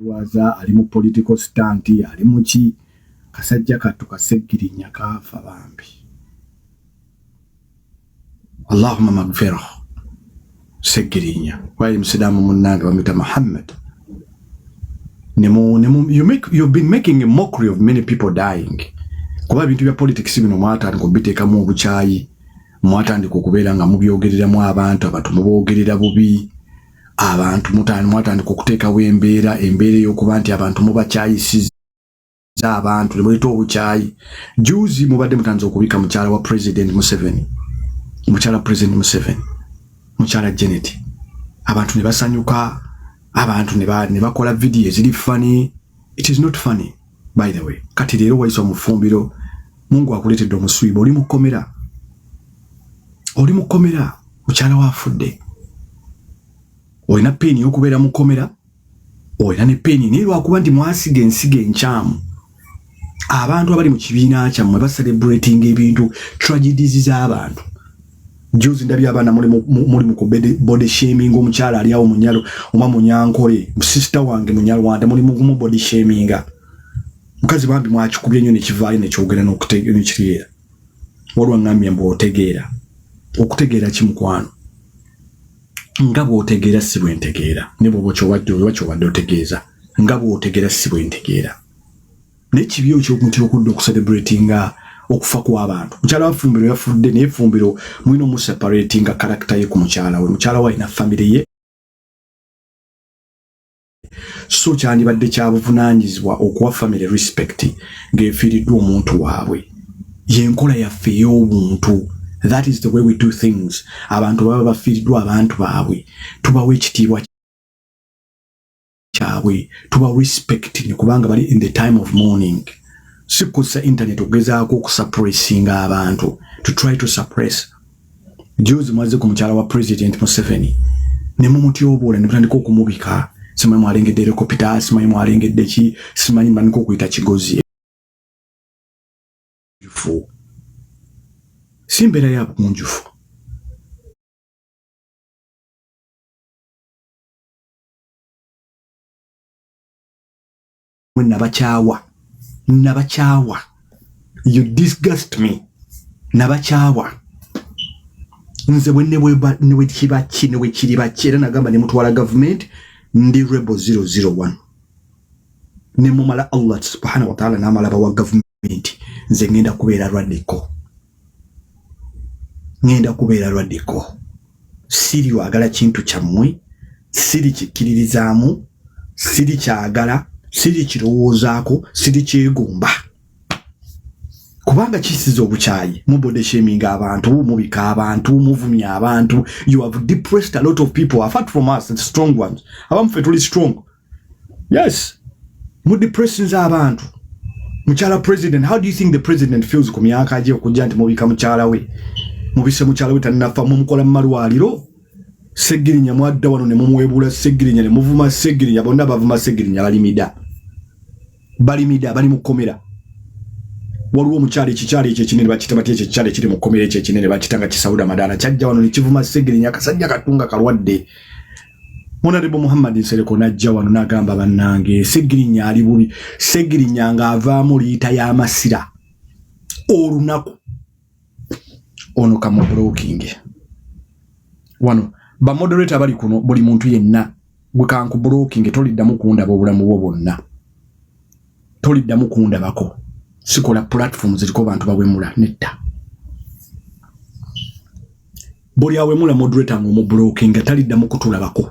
Waza ali mu political stunt ali muki kasajja kattu kaseggirinya kaafa bambi allahuma magfirah seggirinya wayi musiraamu munnange bamuyita muhammad you been making a mockery of many people dying kuba ebintu bya politics bino mwatandika obiteekamu obukyayi mwatandika okubeera nga mubyogereramu abantu abantu muboogerera bubi abantu mutani mwatandika okuteekawo embeera embeera ey'okuba nti abantu mubakyayisiza abantu nemuleeta obukyayi juzi mubadde mutandise okubika mukyala wa president museveni mukyala president museveni mukyala janet abantu ne basanyuka abantu ne bakola vidiyo eziri funny it is not funny by the way kati leero wayisa omufumbiro mungu akuleetedde omuswiba oli mukomera oli mukomera mukyala wafudde olina peeni yokubeera mukomera olina ne peeni naye lwakuba nti mwasiga ensiga enkyamu abantu abali mu kibiina kyammwe baselebratinga ebintu tragedies z'abantu Juzi ndabye abaana muli muli ku body shaming omukyala ali awo munyalo oba munyankole sister wange munyalwanda muli mu body shaming mukazi bambi mwakikubye nnyo nekivaayo nekyogera nekitegeera walwa ngambye mbu otegeera okutegeera ki mukwano nga bwotegeera si bwentegeera ne bwoba kyobadde oba kyobadde otegeeza nga bwotegeera si bwentegeera naye kibi okyokutya okudda okucelebratinga okufa kw'abantu mukyala wa fumbiro yafudde naye fumbiro mulina omuseparatinga karakita ye ku mukyala we mukyala we alina famire ye so kyandibadde kyabuvunanyizibwa okuwa famire respect ng'efiiriddwa omuntu waabwe yenkola yaffe ey'obuntu that is the way we do things abantu baba bafiiriddwa abantu baabwe tubawo ekitiibwa kyabwe tuba respecting kubanga bali in the time of morning sikusa internet okugezaako okusuppressinga abantu to try to suppress juzi mwaze ku mukyala wa president museveni ne mumutyoboola ne mutandika okumubika simanyi mwalengedde erekopita simanyi mwalengedde ki simanyi mutandika okuyita kigozi si mbeera ya bugunjufu mwe nabakyawa nabakyawa you disgust me nabakyawa nze bwenewekibaki newekiribaki era nagamba nemutwala gavumenti ndi rebo 001 nemumala allah subhanahu wataala namala bawa gavumenti nti nze ŋŋenda kubeera radical ŋŋenda kubeera radical siri wagala kintu kyammwe siri kikkiririzaamu siri kyagala siri kirowoozaako siri kyegomba kubanga kisiza obukyayi mubodesheminga abantu mubika abantu muvumya abantu you have depressed a lot of people apart from us strong ones abamu fe tuli strong yes mu depressions abantu mukyala president how do you think the president feels ku myaka gye okujja nti mubika mukyala we mubise mukyala we tannafa mumukola mumalwaliro segirinya mwadda wano ne mumwebula segirinya ne muvuma segirinya bonna bavuma segirinya balimida balimida bali mukomera waliwo omukyala ekikyala ekyo ekinene bakita batya ekyo ekikyala ekiri mukomera ekyo ekinene bakita nga kisawuda madaala kyajja wano ne kivuma segirinya akasajja katunga kalwadde Honorable Muhammad Nsereko najja wano nagamba bannange Segirinya ali bubi Segirinya ng'avaamu liita y'amasira olunaku ono kamubulokinge wano bamodereta bali kuno buli muntu yenna gwe kankubulokinge toliddamu kundaba obulamu bwo bwonna toliddamu kundabako sikola platform ziriko bantu bawemula nedda buli awemula moderator nga omublocking nga talidda mu kutulabako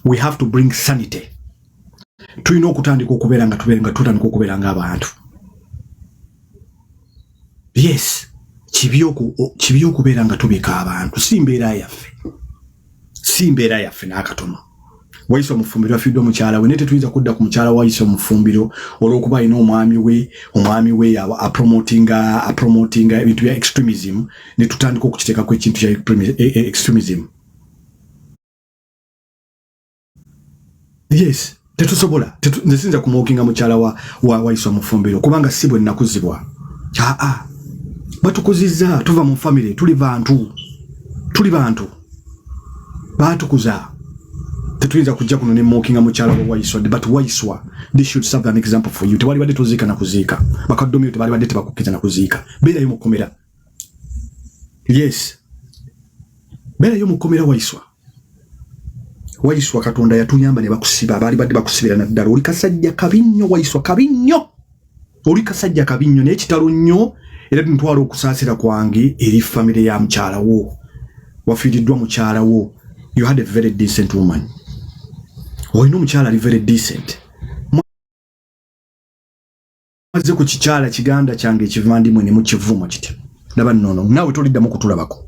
we have to bring sanity tulina okutandika okubeera nga tubeera nga tutandika okubeera nga abantu yes kibi okubeera nga tubika abantu si mbeera yaffe si mbeera yaffe n'akatono wayise omufumbiro afiidde omukyala we naye tetuyinza kudda ku mukyala wayise omufumbiro olwokuba alina omwami we omwami we apromotinga apromotinga ebintu bya extremism ne tutandika okukiteekako ekintu kya e, e, extremism yes tetusobola nze sinza kumwokinga mukyala wa, wa waiswa mufumbiro kubanga si bwe nakuzibwa aa batukuzizza tuva mu famire tuli bantu tuli bantu baatukuza tetuyinza kujja kuno nemwokinga mukyala wa waiswa but waiswa this should serve an example for you tewali badde toziika nakuziika bakaddomiro tebali badde tebakukkiza nakuziika beerayo mukomera yes beerayo mukomera waiswa waiswa katonda yatuyamba ne bakusiba abaali badde bakusibira naddala oli kasajja kabi nnyo waiswa kabi nnyo oli kasajja kabi nnyo naye kitalo nnyo era tuntwala okusaasira kwange eri famire ya mukyala wo wafiiriddwa mukyala wo you had a very decent woman olina omukyala ali very decent mumaze ku kikyala kiganda kyange ekivandimwe ne mukivuma kiti ndaba nono naawe toliddamu kutulabako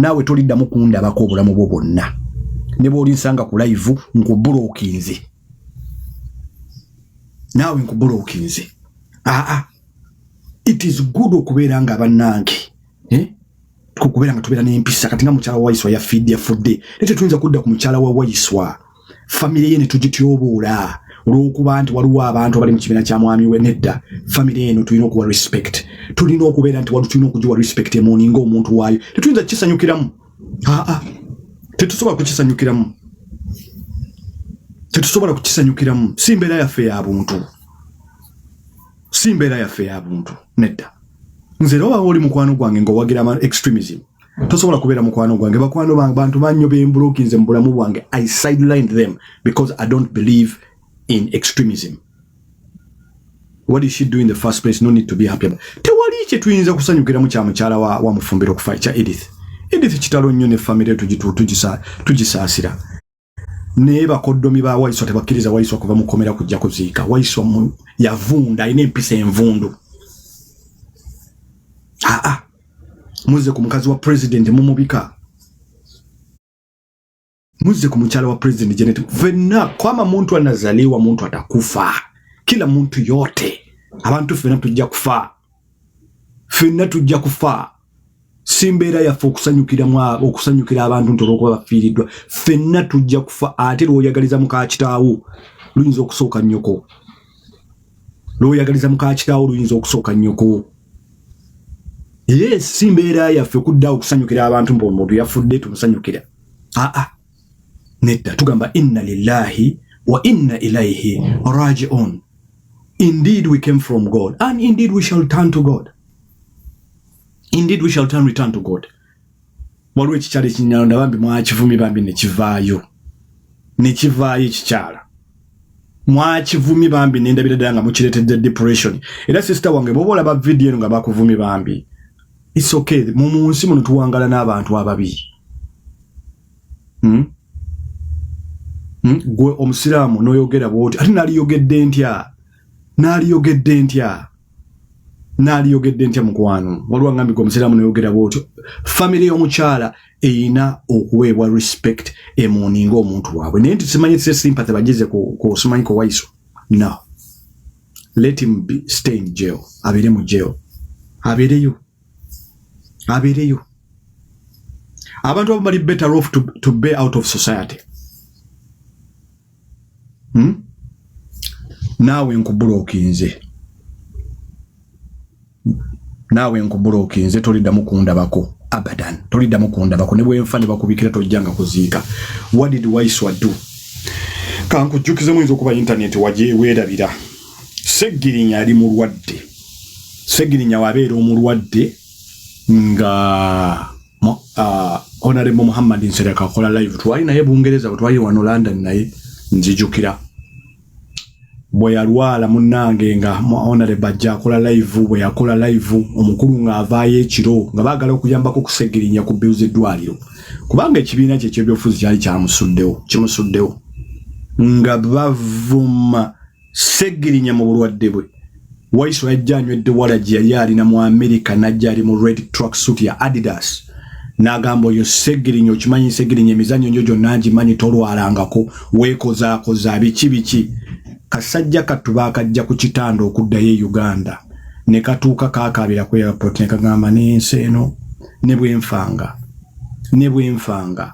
naawe toliddamu kundabako obulamu bwo bwonna ne bw'olinsanga ku layivu nkubulookinze naawe nkubulookinze aa it is good okubeera nga bannange eh? kubeera nga tubeera n'empisa kati nga mukyala waiswa yafidde yafudde naye tetuyinza kudda ku mukyala wa waiswa famire ye netugityoboola olwokuba nti waliwo abantu abali mu kibiina kya mwami we nedda famire eno tulina okuwa respect tulina okubeera nti wali tulina okugiwa respect emoni nga omuntu waayo tetuyinza kukisanyukiramu aa tetusobola kukisanyukiramu tetusobola kukisanyukiramu si mbeera yaffe ya buntu si mbeera yaffe ya buntu nedda nze era obawo oli mukwano gwange ngaowagira ama extremism tosobola kubeera mukwano gwange bakwano bange bantu bannyo bembulokinze mu bulamu bwange i sideline them because i don't believe in extremism what is she doing the first place no need to be happy about tewali kye tuyinza kusanyukiramu kya mukyala wa, wa mufumbiro okufa ekya edith edith kitalo nnyo ne famire tugisaasira tuji, tuji naye bakoddomi ba waiswa tebakkiriza waiswa kuva mukomera kujja kuziika waiswa yavunda alina empisa envundu aa muzze ku mukazi wa pulezidenti mumubika muzze ku mukyala wa pulezidenti janet fenna kwama muntu anazaliwa muntu atakufa kila muntu yote abantu fena tujja kufa fenna tujja kufa si mbeera yaffe okusanyukira abantu nti olwokuba bafiiriddwa fenna tujja kufa ate lwoyagaliza mukakitaawo luyinza okusooka nnyoko lwoyagaliza mukakitaawo luyinza okusooka nnyoko ye si mbeera yaffe kudda okusanyukira abantu mbu omuntu yafudde tumusanyukira aa ah, ah. nedda tugamba inna lillahi wa inna ilaihi rajiun indeed we came from god and indeed we shall turn to god indeed we shall turn return to god waliwo ekikyalo ekinyalonda bambi mwakivumi bambi nekivaayo nekivaayo ekikyala mwakivumi bambi nendabira ddala nga mukiretedde depression era sister wange boba olaba vidiyo eno nga bakuvumi bambi its okay mu munsi muno tuwangala n'abantu ababi hmm? Hmm? gwe omusiraamu noyogera bwoti ate naliyogedde ntya naliyogedde ntya naliyogedde ntya mukwano waliwo angambi gwe omusiraamu nayogera bwotyo famiry y'omukyala eyina okuweebwa respect emuninga omuntu waabwe naye nti simanyi se sympathy bagize ku simanyi ku waiso no let him be stay in jail abeere mu jail abeereyo abeereyo abantu abo bali better off to, to be out of society hmm? naawe nkubulokinze naawe nkubulokinze toliddamu kundabako abadan toliddamu kundabako ne bwenfa ne bakubikira tojjanga kuziika what did waiswa do kankujjukizemu yinza okuba intaneti wajeweerabira seggirinya ali mulwadde seggirinya wabeera omulwadde nga uh, honorable muhammad nsereka akola live twali naye bungereza bwetwali wano london naye nzijukira bweyalwala munange nga honore bajja akola live bweyakola live omukulu ng'avaayo ekiro nga baagala okuyambako okusegirinya ku bill z'eddwaliro kubanga ekibiina kye kyebyobufuzi kyali kyamusuddewo kimusuddewo nga bavuma Ssegirinya mu bulwadde bwe Waiswa yajja anywedde walagi yali alina mu Amerika n'ajja ali mu red truck suit ya Adidas n'agamba oyo Ssegirinya okimanyi Ssegirinya emizannyo njo gyonna ngimanyi tolwalangako weekozaakoza biki biki kasajja kattu baakajja ku kitanda okuddayo e Uganda ne katuuka kaakaabira ku airport ne kagamba n'ensi eno ne bwenfanga ne bwenfanga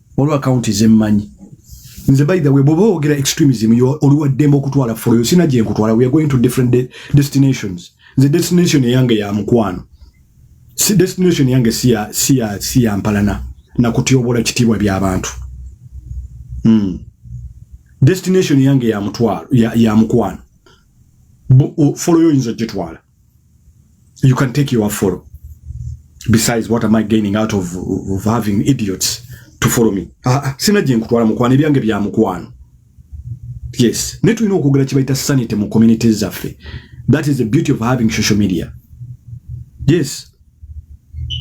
olwa account ze manyi nze by the way bobo ogera extremism yo olwa demo kutwala for you sina je nkutwala we are going to different de destinations the destination yange ya mkwano si destination yange si ya si ya si ya mpalana na kutiobola kitibwa bya abantu mm destination yange ya mtwalo ya, ya mkwano follow you inzo jetwala you can take your follow besides what am i gaining out of, of having idiots to follow me ah, ah sina gye nkutwala mukwano ebyange bya mukwano yes naye tulina okwogera kye bayita sanity mu community zaffe that is the beauty of having social media yes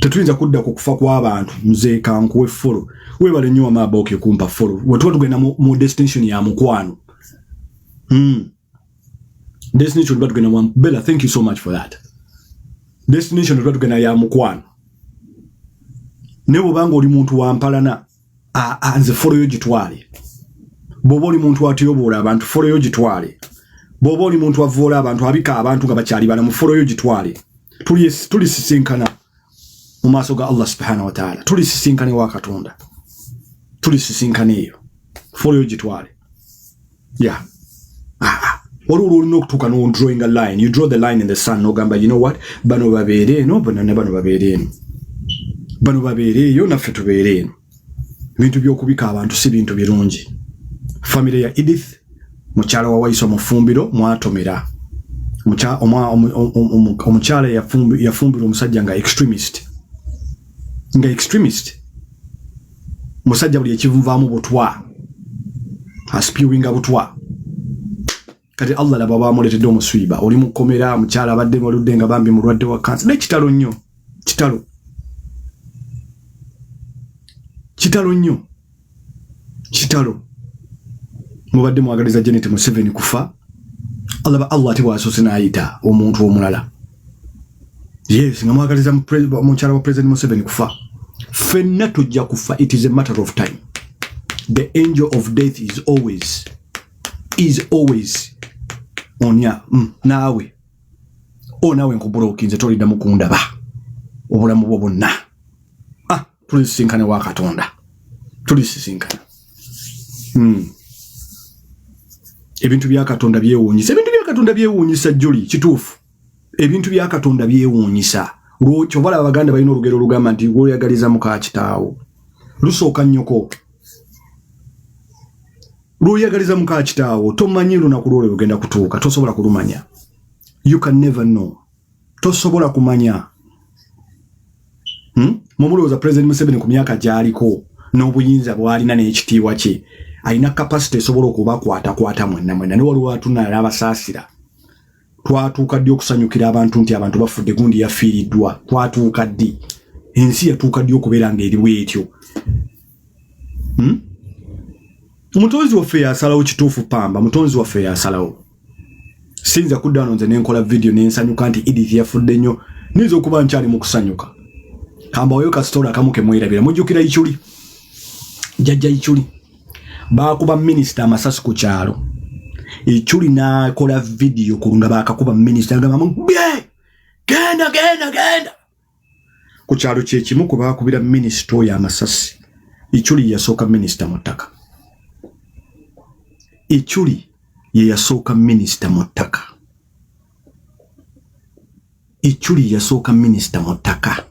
tetuyinza kudda ku kufa kw'abantu nze kankuwe follow webale nnyo wama abooke kumpa follow wetuba tugenda mu, mu destination ya mukwano mm. destination tuba tugenda mwamu bella thank you so much for that destination tuba tugenda ya mukwano naye bwobanga oli muntu wampalana nze foloyo gitwale bwoba oli muntu atyobola abantu foloyo gitwale bwoba oli muntu avoola abantu abika abantu nga bakyali balamu foloyo gitwale tulisisinkana tuli mu maaso ga Allah subhanahu wa ta'ala tuli sisinkane wa katonda tuli sisinkane eyo folio gitwale ya yeah. ah, ah. wali olwo olina okutuuka no drawing a line you draw the line in the sun nogamba you know what bano babeere eno banana bano babeere eno bano babeere eyo naffe tubeere eno ebintu by'okubika abantu si bintu birungi famire ya edith mukyala wa wayiso mufumbiro mwatomera omukyala yafumbira omusajja nga extremist nga extremist musajja buli ekivumvaamu butwa aspiwinga butwa kati allah laba bamuletedde omuswiba oli mukomera mukyala abadde baludde nga bambi mulwadde wa kansa naye kitalo nnyo kitalo kitalo nnyo kitalo mubadde mwagaliza janet museveni kufa alaba allah ate bwasoose n'ayita omuntu omulala yes nga mwagaliza mukyala wa president museveni kufa fenna tujja kufa it is a matter of time the angel of death is always is always onya mm, naawe o oh, naawe nkubulokinze toliddamu kundaba obulamu bwo bonna ah, tuli sisinkane wa katonda tuli sisinkana mm. ebintu bya katonda byewuunyisa ebintu bya katonda byewuunyisa juli kituufu ebintu bya katonda byewuunyisa kyova laba baganda balina olugero olugamba nti gwoyagaliza muka kitaawo lusooka nnyoko lwoyagaliza muka kitaawo tomanyi lunaku lwolwe lugenda kutuuka tosobola kulumanya you can never know tosobola kumanya hmm? mumulowooza president museveni ku myaka gyaliko n'obuyinza bwalina n'ekitiibwa kye alina kapasite esobola okubakwatakwata mwenna mwenna ne waliwo atunala n'abasaasira twatuuka ddi okusanyukira abantu nti abantu bafudde gundi yafiiriddwa twatuuka ddi ensi yatuuka ddi okubeera nga eriwo etyo hmm? mutonzi waffe yasalawo kituufu pamba mutonzi waffe yasalawo sinza kudda nonze nenkola vidiyo nensanyuka nti edith yafudde nnyo niyinza okuba nkyali mu kusanyuka kambawayo kasitola akamu kemwerabira mujjukira ikyuli jajja ikyuli baakuba minisita amasasi ku kyalo ekyuli n'akola vidiyo ku nga baakakuba minisita agamba mugbe genda genda genda ku kyalo kye kimu ku baakubira minisita oyo amasasi ekyuli yasooka minisita mu ttaka ekyuli ye yasooka minisita mu ttaka Ichuli yasooka minisita mu ttaka.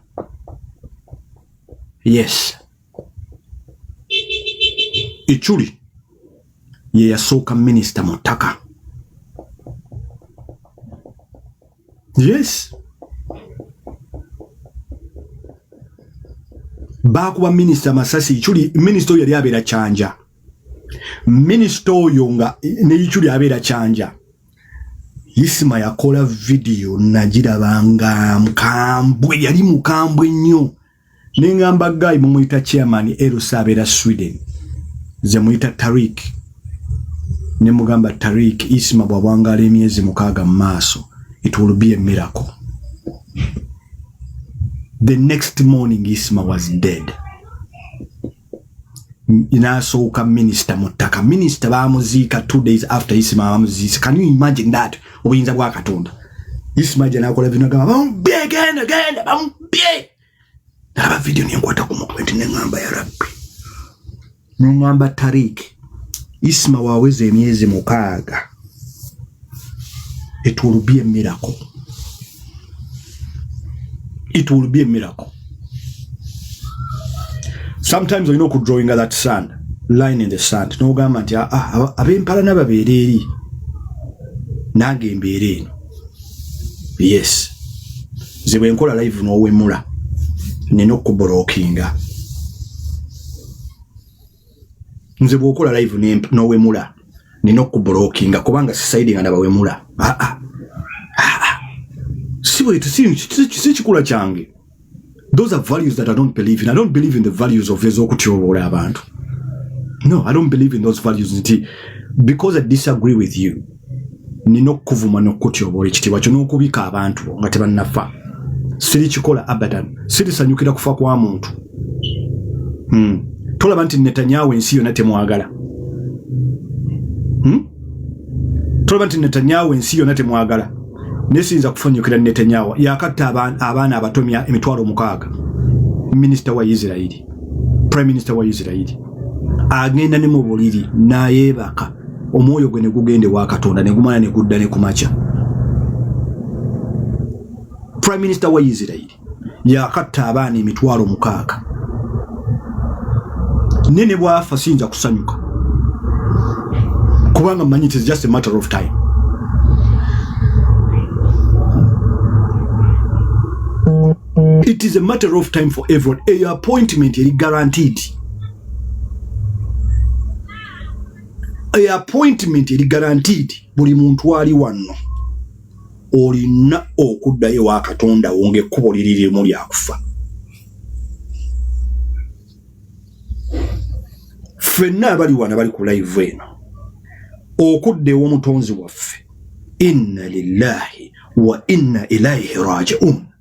Yes. Ichuli ye yasooka minisita mu ttaka. Yes. Baakuba minisita Masasi Ichuli, minisita oyo yali abeera Kyanja. Minisita oyo nga ne Ichuli abeera Kyanja. isima yakola vidiyo nagiraba nga mukambwe yali mukambwe nnyo nengamba gayi mumuyita chairman erusa abeera sweden nze muyita tarik ne mugamba tarik isima bwabwangala emyezi mukaaga mu maaso it will be a miracle the next morning isima was dead nasooka minisita mu ttaka minisita bamuziika two days after isima bamuziise can you imagine that obuyinza bwa katonda isima gye nakola vino gamba bamubye genda genda bamubye nalaba vidiyo nenkwata ku mutwe nti neŋamba ya rabbi neŋamba tarik isima waweza emyezi mukaaga it will be a miracle it will be a miracle sometimes olina okudrawinga that sand line in the sand nogamba nti ah, ah, abempalana babeera eri nange embeera eno yes nze bwenkola live nowemula nina okukubolookinga nze bwokola live nowemula nina okubulokinga kubanga sisaidinga nabawemula ah, ah. ah, sikikula kyange those are values that i don't believe in i don't believe in the values of ezokutyoboola abantu no i don't believe in those values nti because i disagree with you nina okukuvuma nokukutyobola ekitiibwa kyo n'okubika abantu bo nga tebannafa siri kikola abadan sirisanyukira kufa kwa muntu hmm. tolaba nti netanyawo ensi yona temwagala hmm? tolaba nti netanyawo ensi yona temwagala naye siyinza kufanyukira netanyawo yakatta abaana abatomya emitwalo mukaaga minisita wa isirairi prime minisita wa isirairi agenda ne mu buliri nayebaka omwoyo gwe ne gugenda ewa katonda ne gumala ne gudda ne ku makya prime minister wa isirairi yakatta abaana emitwalo mukaaga naye ne bwafa siyinza kusanyuka kubanga manyi it is just a matter of time it is a matter of time for everyone eyo appointment eri guaranteed e appointment eri guaranteed buli muntu ali wanno olina okuddayo wa katonda wo ngaekkubo liri limu lyakufa fenna abali wana bali ku live eno okudda ewomutonzi waffe inna lillahi wa inna ilaihi rajiun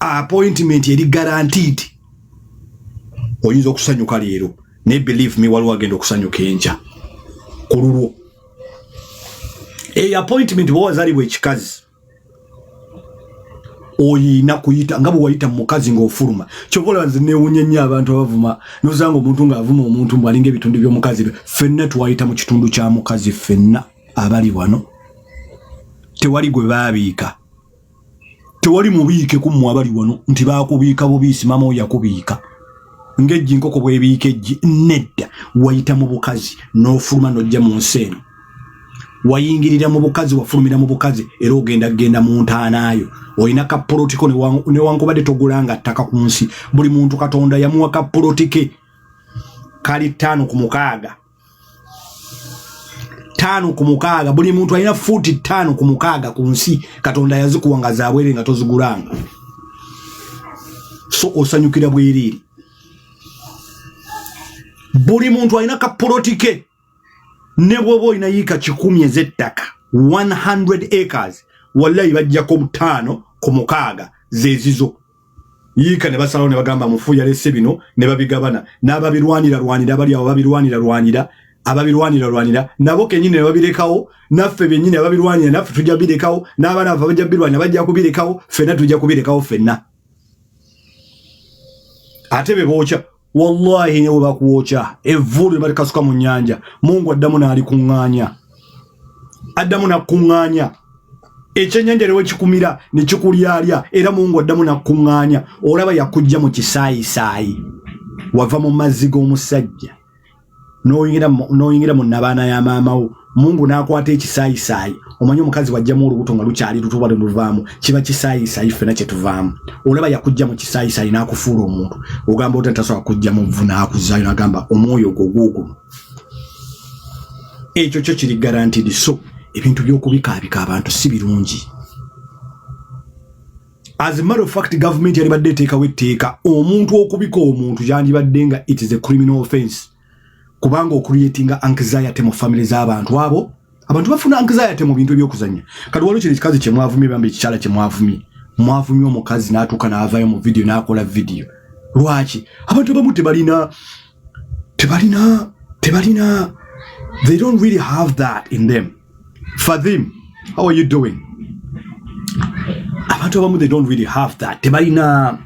appointment eri guaranteed oyinza okusanyuka leero naye believe me waliwo agenda okusanyuka enkya ku lulwo eyo appointment bwe wazalibwa ekikazi oyina kuyita nga bwe wayita mukazi ng'ofuluma kyova olaba nze newunya nnyo abantu abavuma nozanga omuntu ng'avuma omuntu mbu alinga ebitundu by'omukazi be fenna twayita mu kitundu kya mukazi fenna abali wano tewali gwe baabiika tewali mubiike ku mmwe abali wano nti baakubiika bubiisi maama oyo yakubiika ng'eggi nkoko bwebiika eggi nedda wayita mu bukazi n'ofuluma n'ojja mu nsi eno wayingirira mu bukazi wafulumira mu bukazi era ogenda kugenda mu ntaanaayo olina kapolotiko newankubadde togulanga ttaka ku nsi buli muntu katonda yamuwa kapolotike kali ttaano ku mukaaga tano ku mukaaga buli muntu alina fuuti tano ku mukaaga ku nsi katonda yazikuwa nga zabwere nga tozigulanga so osanyukira bwereere buli muntu alina kapolotike ne bwoba olina yiika kikumi ez'ettaka 100 acres wallayi bajjako butaano ku mukaaga zezizo yiika ne basalawo ne bagamba mufu yalese bino ne babigabana n'ababirwanira lwanira abali awo babirwanira lwanira ababirwanira lwanira nabo kenyini ne babirekawo naffe byennyini ababirwanira naffe tujja birekawo n'abaana baffe bajja birwanira bajja kubirekawo ffenna tujja kubirekawo ffenna ate be bookya wallahi nyewe bakuwokya evvu lwe balikasuka mu nyanja mungu addamu n'alikuŋŋaanya addamu nakuŋŋaanya ekyenyanja lewe kikumira ne kikulyalya era mungu addamu nakuŋŋaanya olaba yakujja mu kisaayisaayi wava mu mazzi g'omusajja noyingira noyingira mu nabaana ya maama wo mungu nakwata ekisaayisayi omanyi omukazi wajjamu olubuto nga lukyali lutuba luluvaamu kiba kisaayisayi ffena kyetuvaamu olaba yakujja mu kisaayisayi nakufuula omuntu ogamba ota tasobola kujja mu vu nakuzayo nagamba omwoyo ogwo gwogwo ekyo kyo kiri garantidi so ebintu byokubikaabika abantu si birungi as a matter of fact government yali badde teka we teka omuntu okubika omuntu yandi badde nga it is a criminal offense kubanga okreating anxiety mu family za abantu abo abantu bafuna anxiety mu bintu ebyokuzanya kati waliwo kino ekikazi kye mwavumye bambi ekikyala kye mwavumye mwavumye omukazi n'atuuka n'avaayo mu vidiyo n'akola vidiyo lwaki abantu abamu tebalina tebalina tebalina they don't really have that in them Fathim, how are you doing? Abantu abamu they don't really have that. Tebalina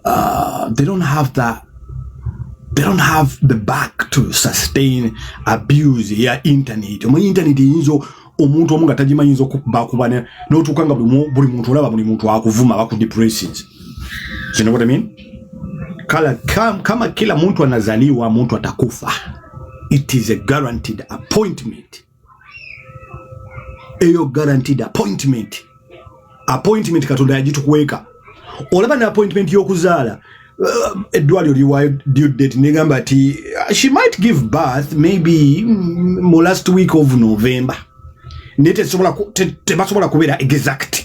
uh, they don't have that they don't have the back to sustain abuse ya internet. Omu internet yinzo omuntu omu nga tagimanyi yinza okuba kuba n'otuuka nga buli muntu olaba buli muntu akuvuma bakudepressions You know what I mean? Kala, kam, kama kila mtu anazaliwa mtu atakufa. It is a guaranteed appointment. Eyo guaranteed appointment. Appointment katonda yagitukuweka. Olaba na appointment y'okuzaala uh, eddwaliro liwa due date negamba ti uh, she might give birth maybe mm, mu last week of November. Naye tebasobola kubeera exact.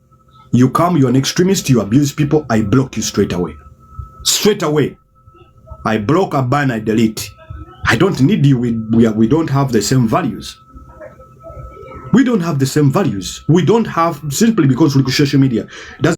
you come you are an extremist you abuse people i block you straight away straight away i block a ban i delete i don't need you we, we, are, we don't have the same values we don't have the same values we don't have simply because social media doesn't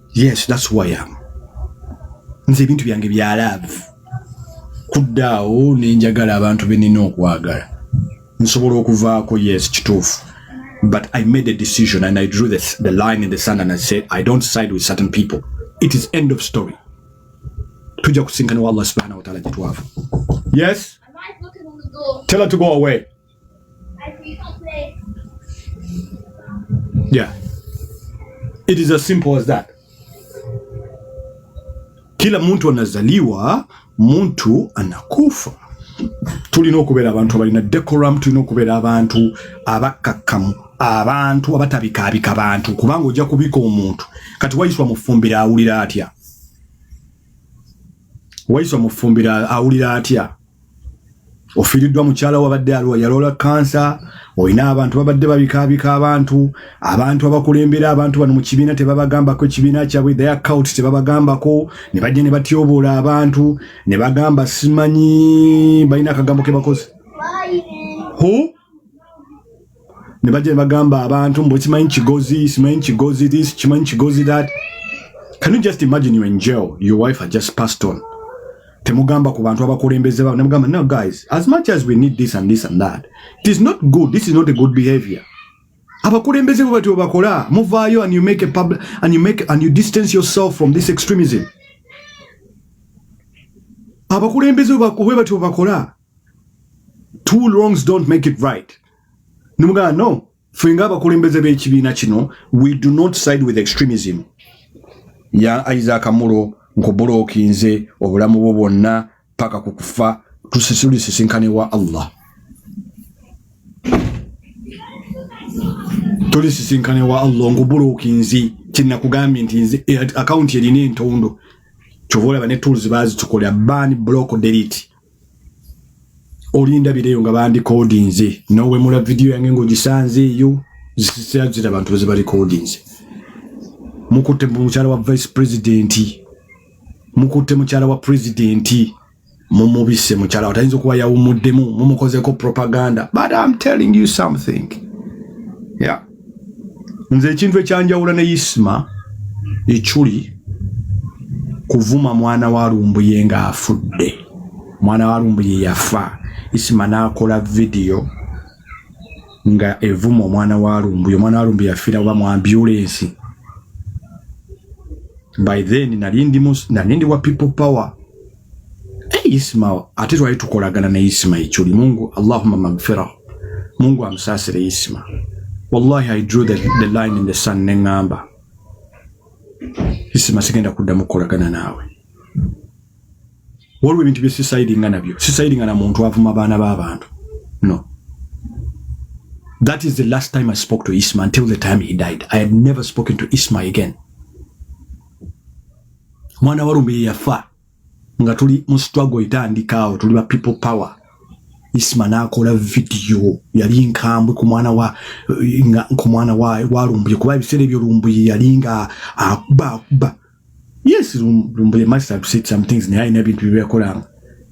yes that's who I am nze ebintu byange bya love kuddaawo nenjagala abantu benina okwagala nsobola okuvaako yes kituufu but I made a decision and I drew the, the line in the sand and I said I don't side with certain people it is end of story tujja kusinkana wa Allah subhanahu wa ta'ala gyetwava yes tell her to go away Yeah. It is as simple as that. Kila mtu anazaliwa, mtu anakufa. Tulina okubeera abantu abalina decorum, tulina okubeera abantu abakakkamu, abantu abatabikaabika abantu, kubanga ojja kubika omuntu. Kati wayiswa mufumbira awulira atya? Wayiswa mufumbira awulira atya? ofiiriddwa mukyala wabadde aluwa yaloola kansa olina abantu babadde babikaabika abantu abantu abakulembera abantu bano mu kibiina tebabagambako ekibiina kyabwe their count tebabagambako ne bajja ne batyoboola abantu ne bagamba simanyi balina akagambo ke bakoze ne bajja ne bagamba abantu mbu kimanyi kigozi simanyi kigozi this kimanyi kigozi that can you just imagine you in jail your wife had just passed on temugamba ku bantu abakulembeze babo nemugamba no guys as much as we need this and this and that it is not good this is not a good behavior abakulembeze bo batyo bakola muvaayo and you make a public and you make and you distance yourself from this extremism abakulembeze bo batyo bakola two wrongs don't make it right nimugamba no ffe nga abakulembeze b'ekibiina kino we do not side with extremism ya isaac mulo nkubulooki nze obulamu bwo bwonna paka ku kufa tulisisinkane wa allah tulisisinkane wa allah nkubulooki nzi kyenakugambye nti nze eh, akawunti erina entondo kyova olaba ne tools bazitukolera ban block delete olinda bireyo nga bandi codinze nowe mula video yange ngo gisanze yo zisizira zira abantu bose bali codinze mukute muchara wa vice president mukute muchara wa president mumubise muchara watainzo kuwa ya umudemu mumukoze ko propaganda but i'm telling you something yeah nze ekintu ekyanjawula ne isma ekyuli kuvuma mwana wa lumbuye nga afudde mwana wa lumbuye yafa isma nakola vidiyo nga evuma omwana wa lumbuye omwana wa lumbuye yafiira oba mu ambulensi by then nali ndi wa people power Ismail ate twali tukolagana ne Ismail Chuli Mungu Allahumma magfira Mungu amsasire Isma wallahi I drew the, the line in the sun ne ngamba Isma sigenda kuddamu kukolagana naawe waliwo ebintu bye sisaidinga nabyo sisaidinga na muntu avuma abaana b'abantu no that is the last time I spoke to Isma until the time he died I had never spoken to Isma again mwana wa lume yafa nga tuli mu struggle itandika awo tuli ba people power isma nakola video yali nkambwe ku mwana wa nga ku mwana wa wa lumbuye kuba ebisere byo lumbuye yali nga akuba akuba yes lumbuye must have said some things naye alina ebintu byeyakolanga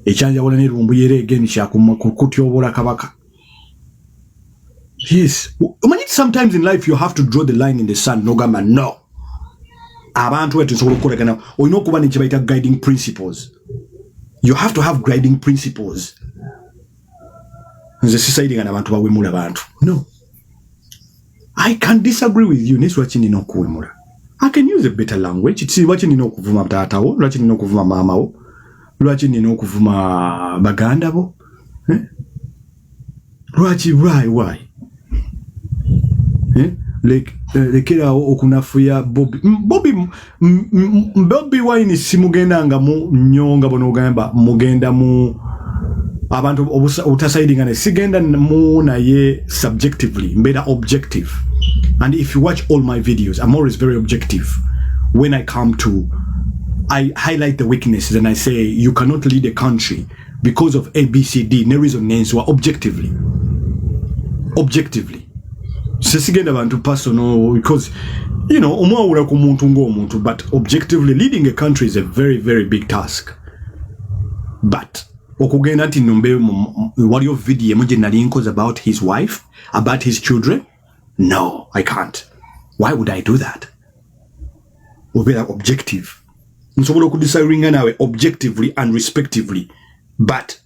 ekyanjawula ne lumbuye era egeni kyakumakutyobola kabaka yes omanyi sometimes in life you have to draw the line in the sun nogamba no abantu wetu nsobola okukolagana olina okuba nekyebayita guiding principles you have to have guiding principles nze sisaidinga nabantu bawemula bantu no I can disagree with you nesu lwaki nina okuwemula I can use a better language si lwaki nina okuvuma taatawo lwaki nina okuvuma maamawo lwaki nina okuvuma baganda bo eh? lwaki why why eh? eh lekerawo okunafuya bobi bobi bobi wine simugenda nga mu nyo nga bonogamba mugenda mu abantu obutasaidinga ne sigenda mu naye subjectively mbeera objective and if you watch all my videos i'm always very objective when i come to i highlight the weaknesses and i say you cannot lead a country because of abcd ne reason nenswa objectively objectively sisigenda bantu personal because you know omwawula ku muntu ng'omuntu but objectively leading a country is a very very big task but okugenda nti nombe waliyo video emu gye nali nkoze about his wife about his children no i can't why would i do that obeera objective nsobola okudisagringa naawe objectively and respectively but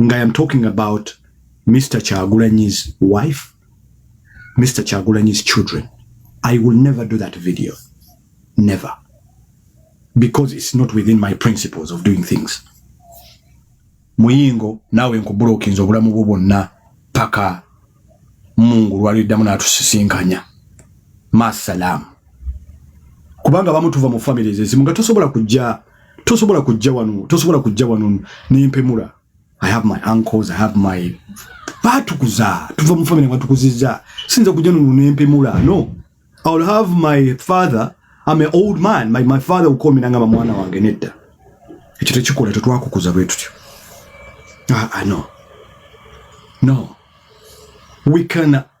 nga am talking about Mr. Chagulanyi's wife, Mr. Chagulanyi's children. I will never do that video. Never. Because it's not within my principles of doing things. Muyingo, nawe nkubulokinza obulamu bwo bwonna paka mungu lwaliddamu n'atusisinkanya masalamu kubanga bamutuva mu families ezimu nga tosobola kujja tosobola kujja wano tosobola kujja wano nempemula i have my uncles i have my batukuza tuva mu family batukuziza sinza kujja nuno nempemula no i will have my father i'm an old man my, my father will call me nangaba mwana wange nedda ekyo tekikola tetwakukuza bwe tutyo ah, ah, no no we can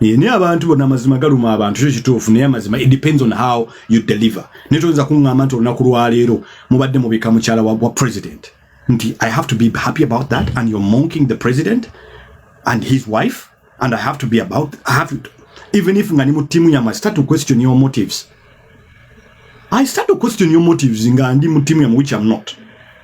Eh, naye abantu bona amazima galuma abantu kyo kituufu naye amazima it depends on how you deliver naye toyinza kuŋŋamba nti olunaku lwaleero mubadde mubika mukyala wa, wa president nti i have to be happy about that and you're monking the president and his wife and i have to be about I have to, even if nga ni mu timu yamwe i start to question your motives i start to question your motives nga ndi mu timu yamwe which i'm not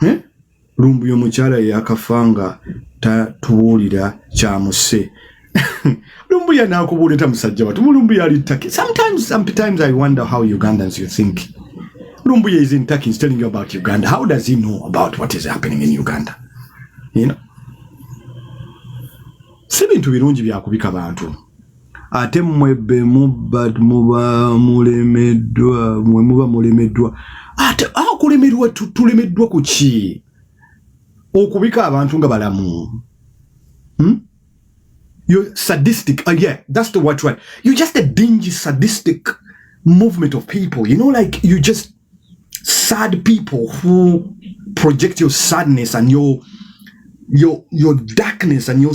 hmm? lumbuye omukyala yakafa nga tatubuulira kyamuse lumbuye nakubuulira tamusajja watu mulumbuye ali taki sometimes, sometimes i wonder how ugandans you think lumbuye is in taki is telling you about uganda how does he know about what is happening in uganda you know? si bintu birungi byakubika bantu ate mwe be muba muba mulemeddwa mwe muba mulemeddwa ate akulemerwa tulemeddwa ku ki okubika abantu nga balamu hmm? you sadistic uh, yeah that's the word right you just a dingy sadistic movement of people you know like you just sad people who project your sadness and your your your darkness and your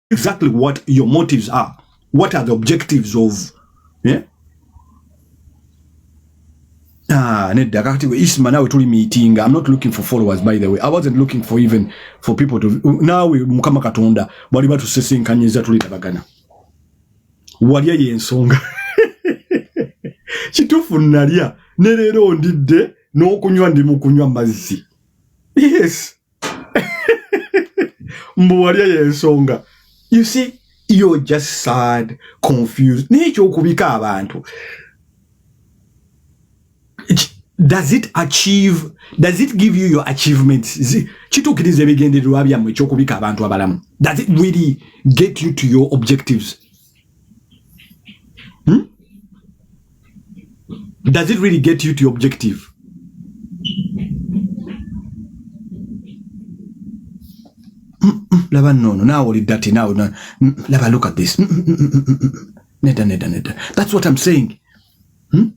exactly what your motives are. What are the objectives of yeah? Ah, nedda kakati we isma nawe tuli meeting i'm not looking for followers by the way i wasn't looking for even for people to nawe mukama katonda bali batu sesenkanyiza tuli tabagana walya yensonga kitufu nalya ne lero ndidde n'okunywa ndi mu kunywa mazzi yes mbu walya yensonga you see you're just sad confused nekyokubika abantu does it achieve does it give you your achievements kituukiriza ebigendererwa byammwe ekyokubika abantu abalamu does it really get you to your objectives Hmm? Does it really get you to your objective? laba nono naawe oli dati naawe laba look at this nedda nedda nedda that's what i'm saying hmm?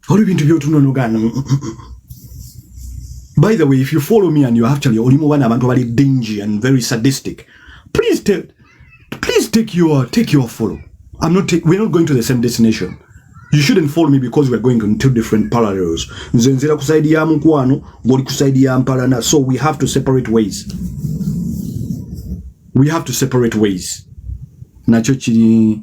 olwo ebintu byotunonogana mm, mm, mm, by the way if you follow me and you actually oli mu bana abantu abali dingy and very sadistic please take, please take your, take your follow I'm not take, we're not going to the same destination you shouldn't follow me because we're going on two different parallels nze nzira ku side ya mukwano ngoli ku side ya mpalana so we have to separate ways we have to separate ways nakyo kiri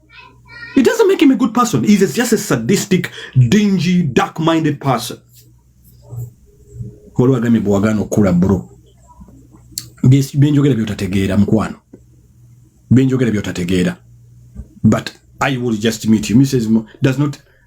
It doesn't make him a good person. He's just a sadistic, dingy, dark-minded person. Waliwo agambye bwe wagaana okukula bro, byenjogera by'otategeera mukwano, byenjogera by'otategeera but I will just meet you. Mrs. Mo does not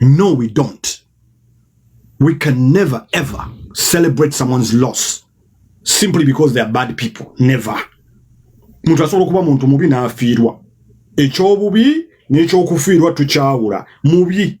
No, we don't. We can never ever celebrate someone's loss simply because they are bad people. Never. Muntu asobola okuba muntu mubi n'afiirwa. Ekyobubi n'ekyokufiirwa tukyawula. Mubi.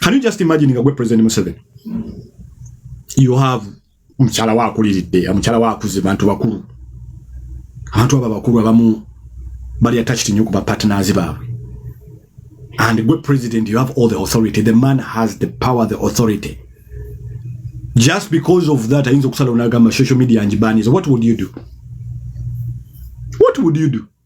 can you just imagine nga gwe president Museveni you have omukyala wakuliridde omukyala wakuze bantu bakulu abantu abo bakulu abamu bali attached nnyo ku ba partners baabwe and gwe president you have all the authority the man has the power the authority just because of that ayinza okusalawo nagamba social media njibaniza what would you do what would you do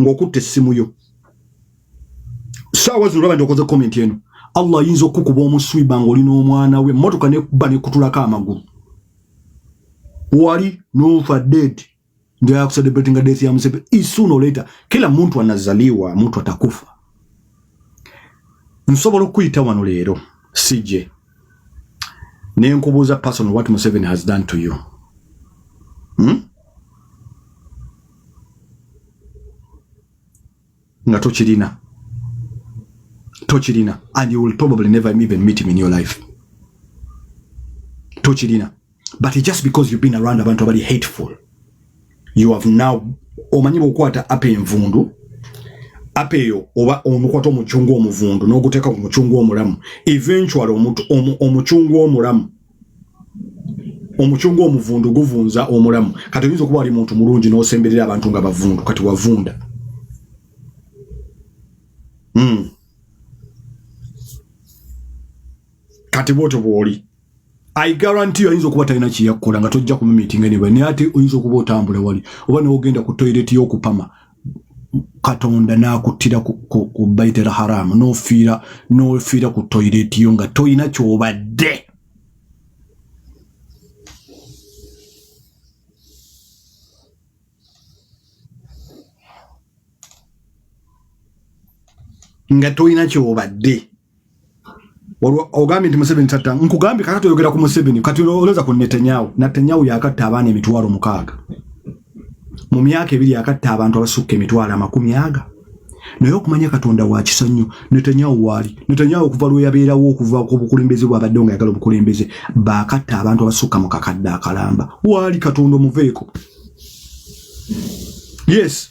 ng'okutte essimu yo saawa zino olaba nti okoze komenti eno allah ayinza okukukuba omuswiba ng'oli n'omwana we emmotoka nekuba nekutulako amagulu wali nofa dead njayakucelebratinga death ya museveni isoon or later kila muntu anazaliwa muntu atakufa nsobola okuyita wano leero sije ne nkubuuza personal what museveni has done to you hmm? nga tokirina tokirina and you will probably never even meet him in your life tokirina but just because you've been around abantu abali hateful you have now omanyi bwokwata apa envundu apa eyo oba omukwata omucungu omuvundu n'oguteeka ku mucungu omulamu eventually omucungu omulamu omucungu omuvundu guvunza omulamu kati oyinza okuba wali muntu mulungi n'osemberera abantu nga bavundu kati wavunda mm. kati bwotyo bwoli I guarantee oyinza okuba talina kyeyakukola nga tojja ku meeting anyway naye ate oyinza okuba otambula wali oba newogenda ku toilet y'okupama katonda n'akuttira ku baitel haramu n'ofiira n'ofiira ku toilet yo nga tolina kyobadde nga tolina kyobadde ogambye nti museveni tatta nkugambye kata toyogera ku museveni kati olowooza ku netanyahu natanyahu yakatta abaana emitwalo mukaaga mu myaka ebiri yakatta abantu abasukka emitwalo amakumi aga naye okumanya katonda wakisa nnyo netanyahu waali netanyahu okuva lweyabeerawo okuva ku bukulembeze bwabadde nga yagala obukulembeze bakatta abantu abasukka mu kakadde akalamba waali katonda omuveeko yes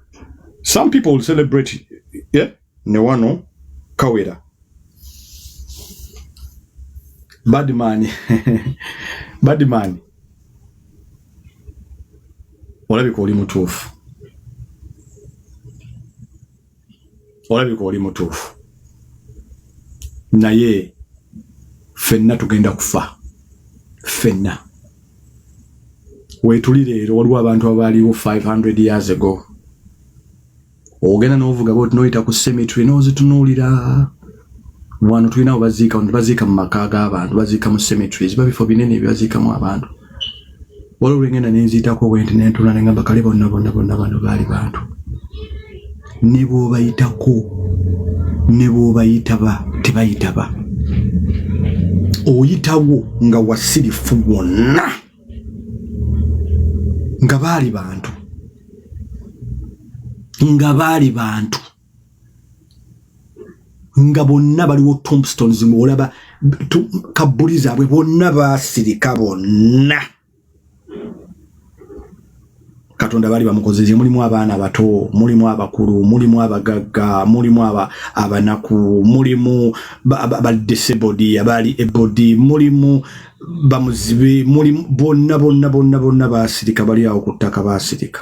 some people will celebrate yeah? ne wano kawera badman badman olabika oli mutuufu olabika oli mutuufu naye fenna tugenda kufa fenna wetuli leero waliwo abantu abaaliwo 500 years ago ogenda novuga bwoti noyita ku cemetery nozitunuulira wano tulina webaziika wano tebaziika mu maka g'abantu baziika mu cemetery ziba bifo binene ebibaziikamu abantu waliwo lwengenda nenziitako bwenti nentula nengamba kale bonna bonna bonna bano baali bantu ne bwobayitako ne bwobayitaba tebayitaba oyitawo nga wasirifu wonna nga baali bantu nga baali bantu nga bonna baliwo tombstones muolaba kabbuli zaabwe bonna basirika bonna katonda bali bamukozeze mulimu abaana abato mulimu abakulu mulimu abagagga mulimu abanaku mulimu badisabodi abaali ebodi mulimu bamuzibe mulimu bonna bonna bonna bonna basirika bali awo ku ttaka basirika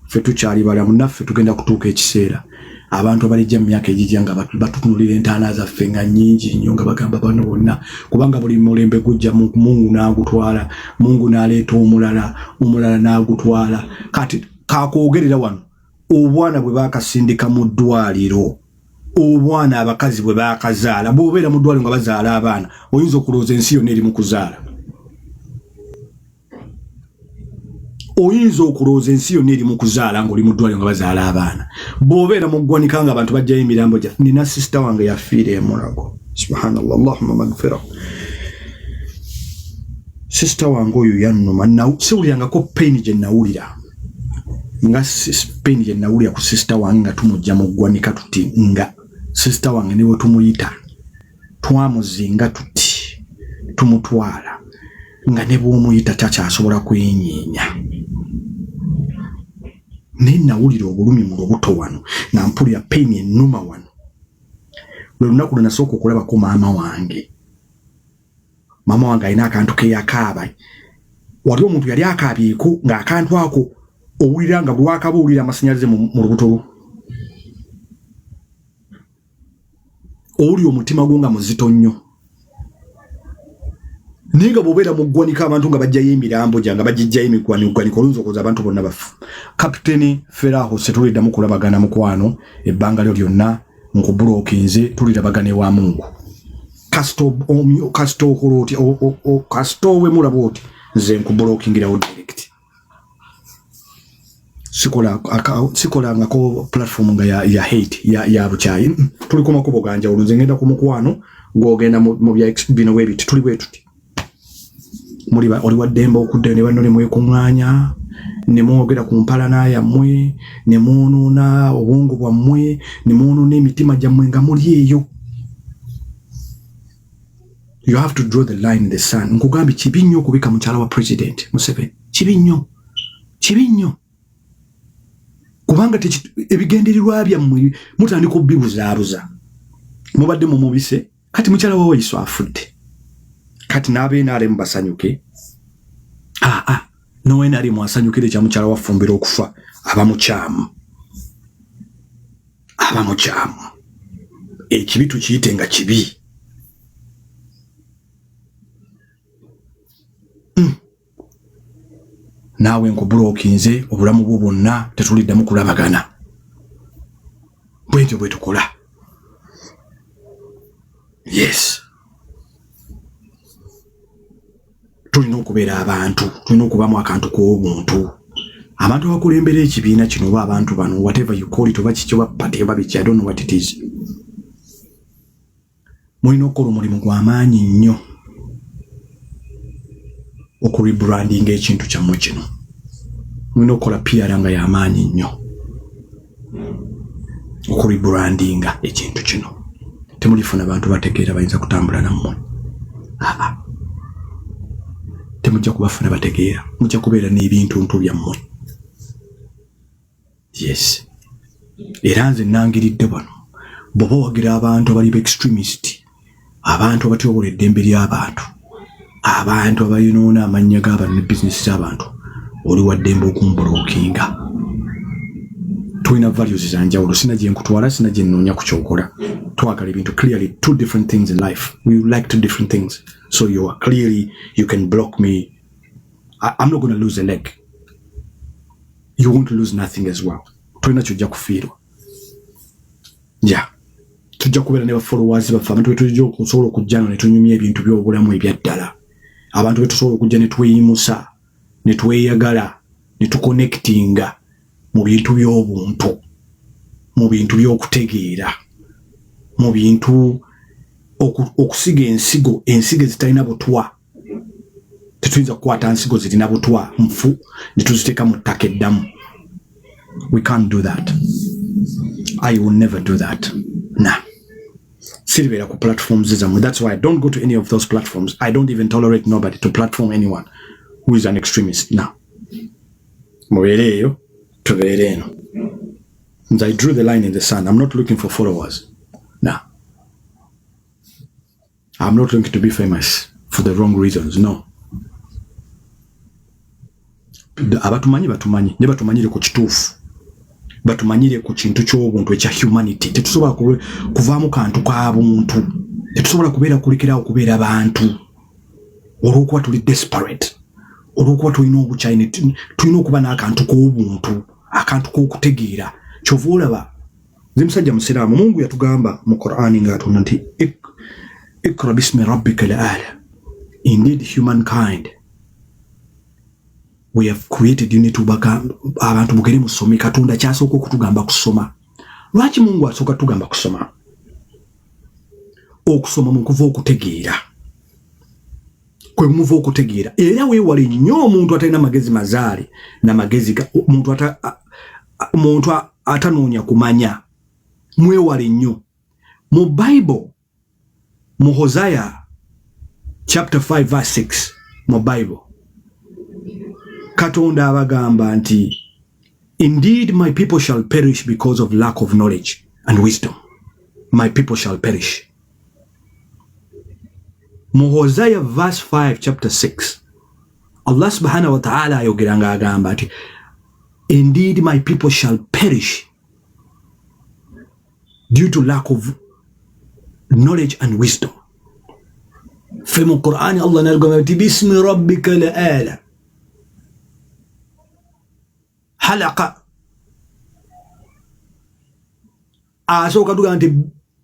ffe tukyali balamu naffe tugenda kutuuka ekiseera abantu abalijja mu myaka egijja nga batutunulira entaana zaffe nga nyingi nnyo nga bagamba bano bonna kubanga buli mulembe gujja mungu n'agutwala mungu n'aleeta omulala omulala n'agutwala kati kakwogerera wano obwana bwe bakasindika mu ddwaliro obwana abakazi bwe bakazaala bwobeera mu ddwaliro nga bazaala abaana oyinza okulowooza ensi yonna eri mu kuzaala oyinza okulowooza ensi yonna eri mu kuzaala ng'oli mu ddwaliro nga bazaala abaana bw'obeera mu ggwanika nga abantu bajjayo emirambo gya nina sisita wange yafiira emulago subhanallah allahuma magfira sisita wange oyo yannuma siwulirangako payini gye nawulira nga payini gye nawulira ku sisita wange nga tumujja mu ggwanika tuti nga sisita wange ne bwe tumuyita twamuzinga tuti tumutwala nga ne bw'omuyita takyasobola kwenyeenya naye nawulira obulumi mu lubuto wano nga mpulira payini ennuma wano lwe lunaku lwe nasooka okulabako maama wange maama wange alina akantu keyakaaba wali omuntu yali akaabyeko ng'akantu ako owulira nga bwewakaba owulira amasannyalaze mu lubuto lwo oli omutima gwo nga muzito nnyo naye nga bwobeera mu ggwanika abantu nga bajjayo emirambo gya nga bagijjayo emigwanigwanika oluyinza okuza abantu bonna bafu kapiteni feraho setulidamu kulabagana mukwano ebbanga lyo lyonna nkubulokinze tulirabagana ewa mungu kasita okola oti kasita owemulaba oti nze nkubulokingira wo direct sikola sikolangako platform nga ya, ya hate ya, ya bukyayi mm, tuli ku makubo ganjawulo nze ngenda ku mukwano gwogenda mu bya bino webiti tuli bwetuti muli oli waddembe okudda ne banno ne mwekuŋŋaanya ne mwogera ku mpalana yammwe ne mwonoona obwongo bwammwe ne mwonoona emitima gyammwe nga muli eyo you have to draw the line in the sun nkugambye kibi nnyo okubika mukyala wa president museveni kibi nnyo kibi nnyo kubanga ebigendererwa byammwe mutandika obibuzaabuza mubadde mumubise kati mukyala wa wayiso afudde kati n'abenaremu basanyuke aa ah, ah, nowenaremu asanyukire ekya mukyala wafumbira okufa aba mukyamu aba mukyamu ekibi tukiyite nga kibi hmm. naawe nkubulokinze obulamu bwo bwonna tetuliddamu kulabagana bwentyo bwetukola yes tulina okubeera abantu tulina okubamu akantu k'obuntu abantu abakulembera ekibiina kino oba abantu bano whatever you call it oba kiki oba party oba biki i don't know what it is mulina okukola omulimu gwa maanyi nnyo okurebrandinga ekintu kyammwe kino mulina okukola piara nga y'amaanyi nnyo okubibrandinga ekintu kino temulifuna bantu bategeera bayinza kutambula nammwe aa temujja kubafuna bategeera mujja kubeera n'ebintuntu byammwe yes era nze nangiridde bano bwoba wagira abantu abali ba extremist abantu abatyobola eddembe ly'abantu abantu abayonoona amannya g'abantu ne bizinesi z'abantu oli waddembe okumbulookinga tulina values za njawulo sina gye nkutwala sina gye nnoonya ku kyokola twagala ebintu clearly two different things in life we like two different things so you are clearly you can block me I, i'm not going to lose a leg you won't lose nothing as well tulina kyojja kufiirwa ya tujja kubeera ne bafolowers baffe abantu betujja okusobola okujja no netunyumya ebintu byobulamu ebyaddala abantu betusobola okujja netweyimusa netweyagala netuconnectinga mu bintu byobuntu mu bintu byokutegeera mu bintu okusiga ensigo ensigo ezitalina butwa tetuyinza kukwata nsigo zirina butwa nfu netuziteeka mu ttaka eddamu we can't do that i will never do that na siribeera ku platforms zammwe that's why i don't go to any of those platforms i don't even tolerate nobody to platform anyone who is an extremist now mubeere eyo tubeere eno nze i drew the line in the sun i'm not looking for followers I'm not looking to be famous for the wrong reasons no abatumanyi batumanyi ne batumanyire ku kituufu batumanyire ku kintu ky'obuntu ekya humanity tetusobola kuvaamu kantu ka buntu tetusobola kubeera kulekerawo kubeera bantu olw'okuba tuli desperate olw'okuba tulina obukyayina tulina okuba n'akantu k'obuntu akantu k'okutegeera kyova olaba nze musajja musiraamu mungu yatugamba mu qurani ng'atonda nti ikra bismi rabbika laala indeed humankind we have created you need to baka abantu mugere musome katonda kyasooka okutugamba kusoma lwaki mungu asooka tugamba kusoma okusoma mu kuva okutegeera kwe muva okutegeera era weewale nnyo omuntu atalina magezi mazaale na magezi muntu ata muntu atanoonya kumanya mwewale nnyo mu bible mu hosaya chapter 5 verse 6 mu bible katonda abagamba nti indeed my people shall perish because of lack of knowledge and wisdom my people shall perish mu hosaya verse 5 chapter 6 allah subhanahu wataala ayogera nga agamba nti indeed my people shall perish due to lack of knowledge and wisdom fe mu qurani allah nagamba nti bismi rabbika la ala halaqa asooka tugamba nti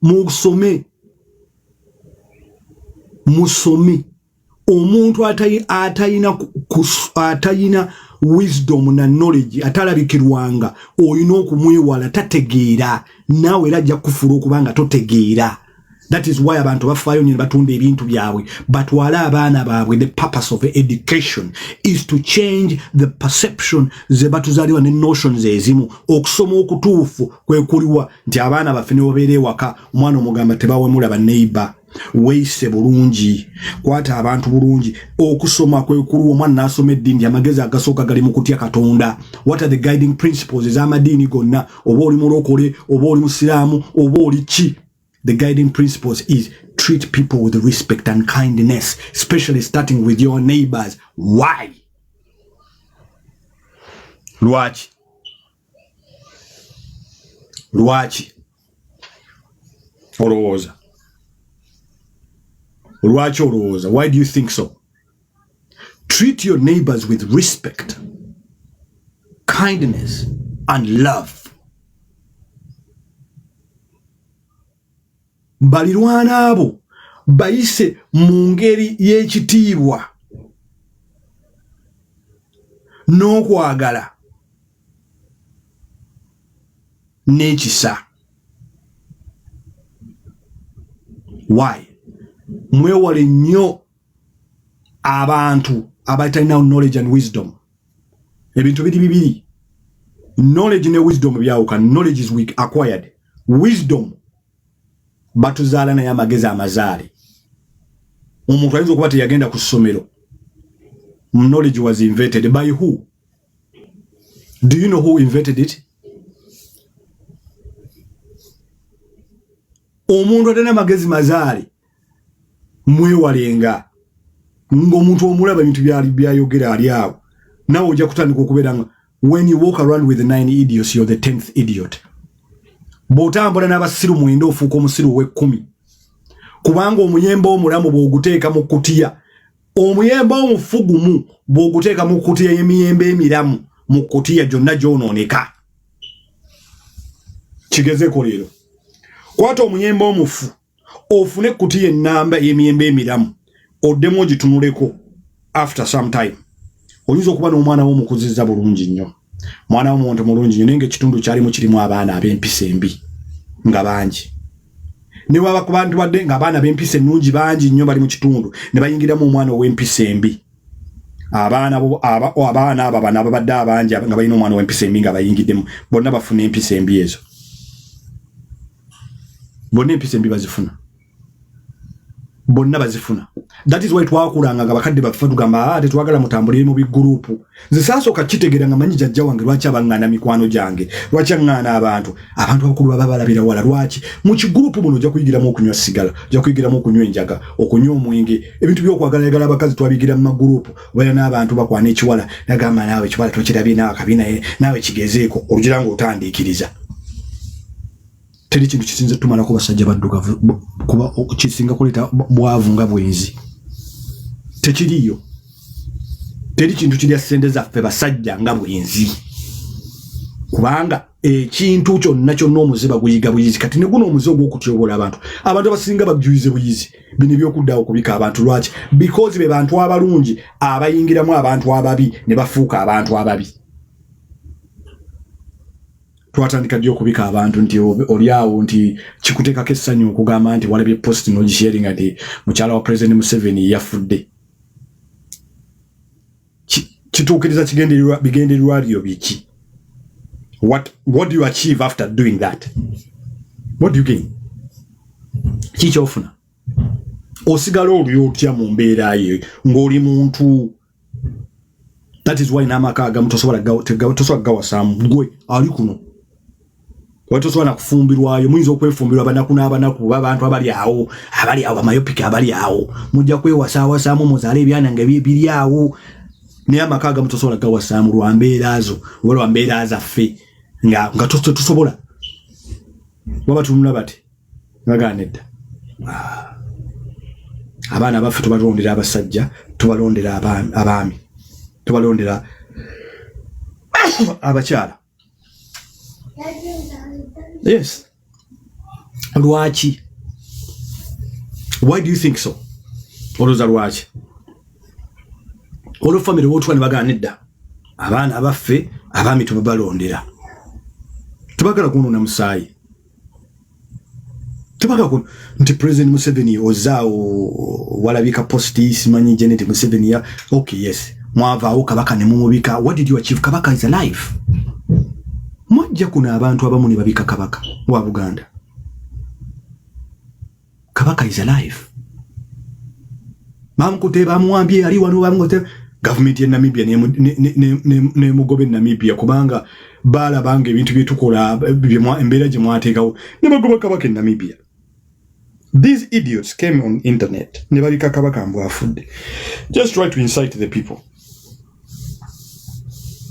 musome musome omuntu atayina atayina wisdom na knowledge atalabikirwanga olina okumwewala tategeera naawe era ajja kufula okubanga totegeera that is why abantu bafaayo nyo nebatunda ebintu byabwe batwale abaana baabwe the purpose of education is to change the perception zebatuzaliwa ne notions ezimu okusoma okutuufu kwekuliwa nti abaana baffe nebabeera ewaka omwana omugamba tebawemula baneiba weise bulungi kwata abantu bulungi okusoma kwekuliwa omwana nasoma eddiini amagezi agasooka gali mu kutya katonda what are the guiding principles ez'amadiini gonna oba oli mulokole oba oli musiraamu oba oli ki the guiding principles is treat people with respect and kindness especially starting with your neighbors why lwaki lwaki olowooza lwaki olowooza why do you think so Treat your neighbors with respect, kindness, and love. balirwana abo bayise mu ngeri y'ekitiibwa n'okwagala n'ekisa why mwewale nnyo abantu abatalina knowledge and wisdom ebintu biri bibiri knowledge ne wisdom byawuka knowledge is weak acquired wisdom batuzaala naye amagezi amazaale omuntu ayinza okuba teyagenda ku ssomero knowledge was invented by who do you know who invented it omuntu atalina magezi mazaale mwewalenga ng'omuntu omulaba ebintu byali byayogera ali awo nawe ojja kutandika okubeera nga when you walk around with nine idiots you're the tenth idiot bw'otambula n'abasiru mwenda ofuuka omusiru ow'ekkumi kubanga omuyembe omulamu bw'oguteeka mu kutiya omuyembe omufu gumu bw'oguteeka mu kutiya y'emiyembe emiramu mu kutiya gyonna gyonooneka kigezeko leero kwata omuyembe omufu ofune kuti ye namba yemiyembe emiramu odemu ogitunuleko after some time oyinza okuba n'omwana wo mukuziza bulungi nnyo mwana wo muntu mulungi nnyo naye nga ekitundu kyalimu kirimu abaana ab'empisa embi nga bangi ne waba ku bantu badde nga abaana b'empisa ennungi bangi nnyo bali mu kitundu ne bayingiramu omwana ow'empisa embi abaana abaana abo abana babadde abangi nga balina omwana ow'empisa embi nga bayingiddemu bonna bafuna empisa embi ezo bonna empisa embi bazifuna bonna bazifuna that is why twakulanga nga bakadde baffe tugamba ah, tetwagala mutambulire mu bigurupu nze saasooka kitegeera nga manyi jajja wange lwaki abaŋŋaana mikwano gyange lwaki aŋŋaana abantu abantu abakulu baba balabira wala lwaki mu kigurupu muno ojja kuyigiramu okunywa sigala ojja kuyigiramu okunywa enjaga okunywa omwenge ebintu by'okwagalayagala abakazi twabigira mu magurupu wera n'abantu bakwana ekiwala nagamba naawe ekiwala tokirabye naawe akabi naye naawe kigezeeko olugira nga otandiikiriza teri kintu kisinze tumalako basajja baddugavu kuba kisinga kuleeta bwavu nga bwenzi tekiriyo teri kintu kirya ssente zaffe basajja nga bwenzi kubanga ekintu kyonna kyonna omuze baguyiga buyizi kati ne guno omuze ogw'okutyobola abantu abantu abasinga bajuyize buyizi bino ebyokuddawo okubika abantu lwaki because be bantu abalungi abayingiramu abantu ababi ne bafuuka abantu ababi twatandika ddi okubika abantu nti oli awo nti kikuteekako essanyu okugamba nti walabye post nogisharinga nti mukyala wa president museveni yafudde kituukiriza kigendererwa bigendererwa byo biki what, what do you achieve after doing that what do you gain kikyofuna osigala oli otya mu mbeera ye ng'oli muntu that is why n'amaka agamu tosobola gawasamu gwe ali kuno Watu tosobola kufumbirwayo muyinza okwefumbirwa banaku n'abanaku oba abantu abali awo abali awo bamayopiki abali awo mujja kwewasaawasaamu muzaale ebyana nga biri awo naye amaka agamu tosobola gawasaamu lwa mbeera zo oba lwa mbeera zaffe nga nga tetusobola waba tunula bati nagaana edda ah. abaana baffe tubalondera abasajja tubalondera abaami tubalondera abakyala yes lwaki why do you think so oloza lwaki olwo famire wotuwa ne bagana nedda abaana abaffe abaami tubabalondera tubagala kunona musaayi tebagala ku nti president museveni ozaawo walabika posti simanyi janet museveni ya ok yes mwavaawo kabaka ne mumubika what did you achieve kabaka is alive mwajja kuno abantu abamu ne babika kabaka wa buganda kabaka is alive bamukute bamuwambye ali wano bamukute gavumenti ya namibia nemugobe namibia kubanga balabanga ebintu byetukola embeera gye mwateekawo ne bagoba kabaka e namibia these idiots came on internet ne babika kabaka mbu afudde just try to incite the people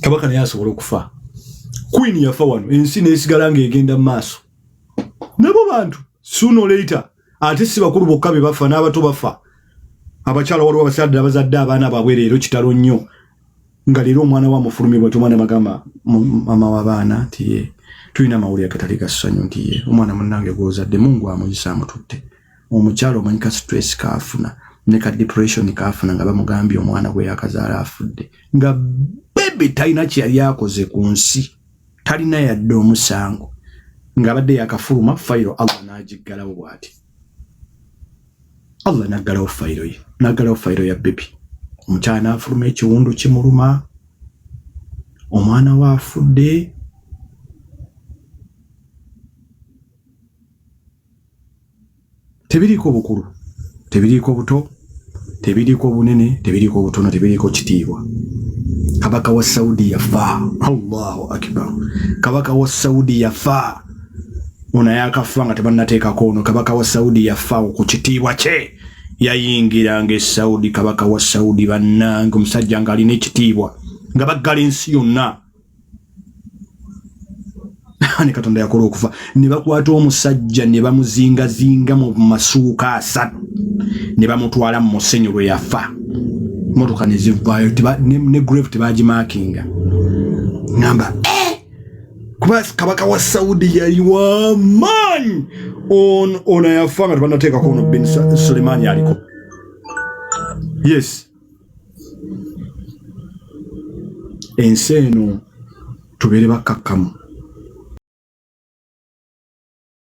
kabaka naye asobola okufa queen yafa wano ensi nesigala nga egenda mu maaso nabo bantu sooner or later ate si bakulu bokka be bafa n'abato bafa abakyala waliwo abasadde abazadde abaana baabwe leero kitalo nnyo nga leero omwana wa mufulumi bwati omwana bagamba mama w'abaana nti ye tulina amawulire agatali ga ssanyu nti ye omwana munnange gw'ozadde mungu amuyisa amututte omukyala omanyi ka stress kaafuna ne ka depression kaafuna nga bamugambye omwana gwe yakazaala afudde nga bebe talina kye yali akoze ku nsi talina yadde omusango ng'abadde yakafuluma fayiro allah n'agiggalawo bw'ati allah n'aggalawo fayiro ye n'aggalawo fayiro ya bebi omukyala n'afuluma ekiwundu kimuluma omwana we afudde tebiriiko bukulu tebiriiko buto tebiriiko bunene tebiriiko butono tebiriiko kitiibwa kabaka wa saudi yafa allahu akbar kabaka wa saudi yafa ono yakafa nga tebanateekako ono kabaka wa saudi yafa ku kitiibwa kye yayingiranga esaudi kabaka wa saudi bannange omusajja ng'alina ekitiibwa nga baggala ensi yonna ne katonda yakola okufa ne bakwata omusajja ne bamuzingazinga mu masuuka asatu ne bamutwala mu musenyu lwe yafa motoka ne zivaayo ne grave tebagimakinga namba eh! kuba kabaka wa saudi yali wamaanyi ono yafa nga tebanateekako ono bin sulemani aliko yes ensi eno tubeere bakkakkamu.